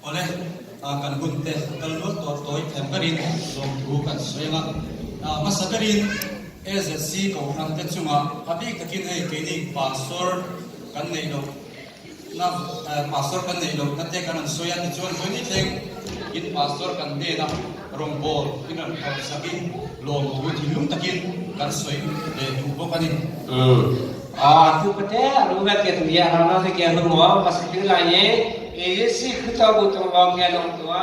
Ole, kan hun te kal lul to toi them karin lom thu kan soinga. Masa karin AZC kohran te chunga abik takin ei keini pastor kan nei lo na pastor kan nei lo na te kan an soi an chuan soi ni thleng in pastor kan te na rom bol in an thau sakin lom tu thi lum takin kan soi le tu bo kan in a tu pate ru ba ke tu ya ha na se ke nu mo pas tu lai ye e si khutau bu tong ong ke nong tua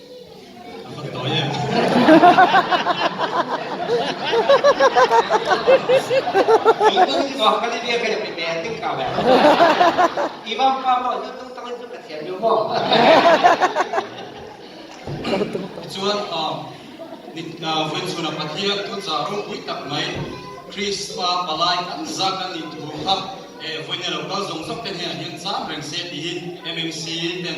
Cun vunchun a pathian tu carum ui tak mai Christmas palai kan zak an in tu kham e vun lo kal zong zong ten he hin cham reng se ti hin MMC ten